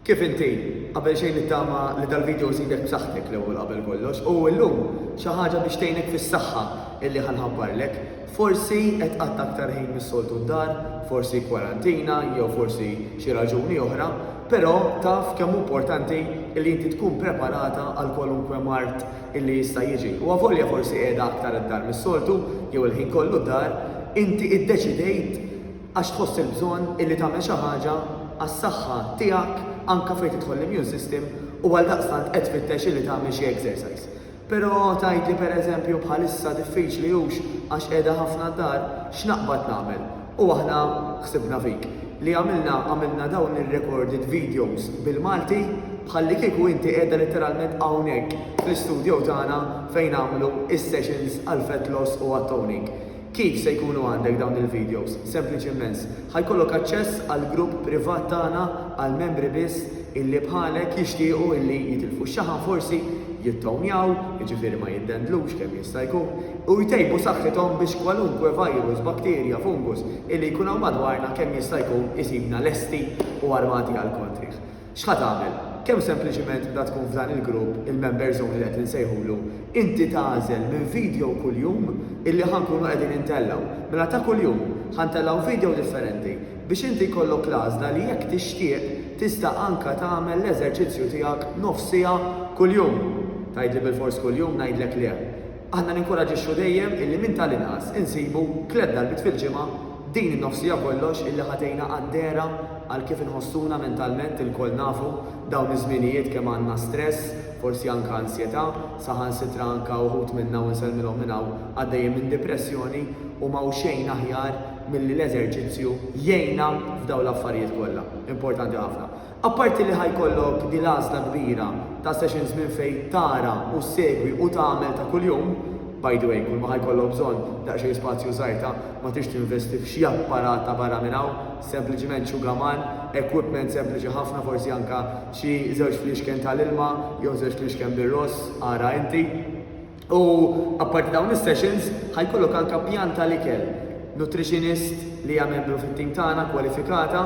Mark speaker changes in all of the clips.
Speaker 1: Kif inti? Qabel xejn nittama li dal-video żidek b'saħħtek l-ewwel qabel kollox u llum xi ħaġa biex tgħinek fis-saħħa illi ħa nħabbarlek. Forsi qed tqatta' aktar ħin mis-soltu d-dar, forsi kwarantina jew forsi xi raġuni oħra, però taf kemm hu importanti illi inti tkun preparata għal kwalunkwe mard illi jista' jiġi. U avolja forsi qiegħda aktar id-dar mis-soltu jew il-ħin kollu d-dar, inti iddeċidejt Għax tħoss il-bżonn illi tagħmel xi ħaġa għas-saħħa tiegħek anke fejn tidħol l-immune system u għaldaqstant qed tfittex illi tagħmel xi exercise. Però tgħidli pereżempju bħalissa diffiċli hux għax qiegħda ħafna d-dar, x'naqbad nagħmel? U aħna ħsibna fik. Li għamilna, għamilna dawn ir-recorded videos bil-Malti bħallikieku inti qiegħda litteralment hawnhekk fl-istudio tagħna fejn nagħmlu is-sessions għall-fat loss u għat-toning. Kif se jkunu għandek dawn il-videos? Sempliċi immens. Ħa jkollok aċċess għal grupp privat tagħna għal membri biss illi bħalek jixtiequ illi jitilfu x-xaħam forsi, jittownjaw, jiġifieri ma jiddendlux kemm jista' jkun, u jtejbu saħħithom biex kwalunkwe virus, bakterja, fungus illi jkun hawn madwarna kemm jista' jkun isibna lesti u armati għall-kontrih. X'ħa tagħmel? Kemm sempliċiment bda tkun f'dan il-grupp, il-member zone li qed insejħulu, inti tagħżel minn video kuljum illi ħa nkunu qegħdin intellgħu. Mela ta' kuljum, ħa ntellgħu video differenti biex inti jkollok l-għażla li jekk tixtieq tista' anke tagħmel l-eżerċizzju tiegħek nofs siegħa kuljum. Tgħidli bilfors kuljum ngħidlek le. Aħna ninkuraġixxu dejjem illi minn tal-inqas insibu tliet darbiet fil-ġimgħa din in-nofs siegħa kollox illi ħa tgħinna qaddera għal kif inħossuna mentalment ilkoll nafu dawn iż-żminijiet kemm għandna stress, forsi anke ansjetà, saħansitra anke uħud minna u nsellmilhom minn hawn għaddejjin minn dipressjoni u m'hawn xejn aħjar milli l-eżerċizzju jgħinna f'dawn l-affarijiet kollha. Importanti ħafna. Apparti li ħa jkollok din l-għażla kbira ta' sessions minn fejn tara u ssegwi u tagħmel ta' kuljum, by the way, kulma ħa jkollok bżonn daqsxejn spazju żgħir ta' ma tridx tinvesti f'xi apparat ta' barra minn hawn, sempliċiment xugaman, equipment sempliċi ħafna forsi anke xi żewġ fliexken tal-ilma jew żewġ fliexken bir-ross, ara inti. U apparti dawn is-sessions, ħajkollok anke pjan tal-ikel. Nutritionist li hija membru fit-tim tagħna kwalifikata,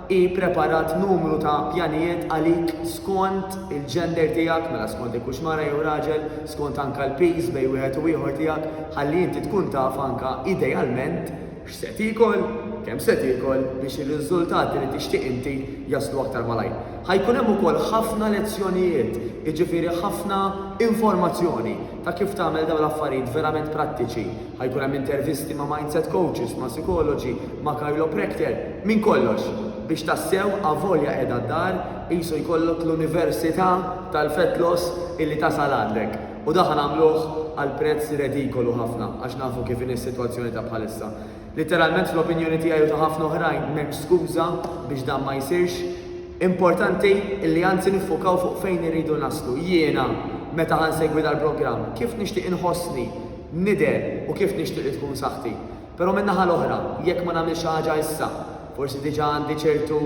Speaker 1: hi ppreparat numru ta' pjanijiet għalik skont il-gender tiegħek, mela skont jekk hux mara jew raġel, skont anke l-piż bejn wieħed u ieħor tiegħek, ħalli inti tkun taf anke idealment, X'se tiekol, kemm se tiekol biex ir-riżultati li tixtieq inti jaslu aktar malajr. Ħa jkun hemm ukoll ħafna lezzjonijiet, jiġifieri ħafna informazzjoni ta' kif tagħmel dawn l-affarijiet verament prattiċi. Ħa jkun hemm intervisti ma' mindset coaches, ma' sikoloġi, ma' chiropractor, minn kollox, biex tassew avolja qiegħda d-dar qisu jkollok l-università tal-fat loss illi tasal għandek. U dak nagħmluh għal prezz redikolu ħafna għax nafu kif inhi s-sitwazzjoni ta' bħalissa. Litteralment fl-opinjoni tiegħi u ta' ħafna oħrajn m'hemmx skuża biex dan ma jsirx. Importanti li anzi niffukaw fuq fejn irridu naslu. Jiena meta ħa nsegwi dal-programm, kif nixtieq inħossni, nidher u kif nixtieq li tkun saħħti. Però min-naħa l-oħra, jekk ma nagħmilx xi ħaġa issa, forsi diġà għandi ċertu,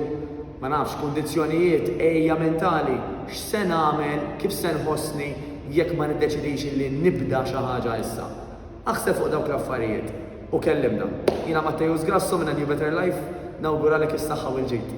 Speaker 1: ma nafx, kundizzjonijiet, għejja mentali, x'se nagħmel, kif se nħossni jekk ma niddeċidix li nibda xi ħaġa issa? Aħseb fuq dawk l-affarijiet u kellimna. Jiena Matteus Grasso minn A New Better Life, nawguralek is-saħħa u l-ġid.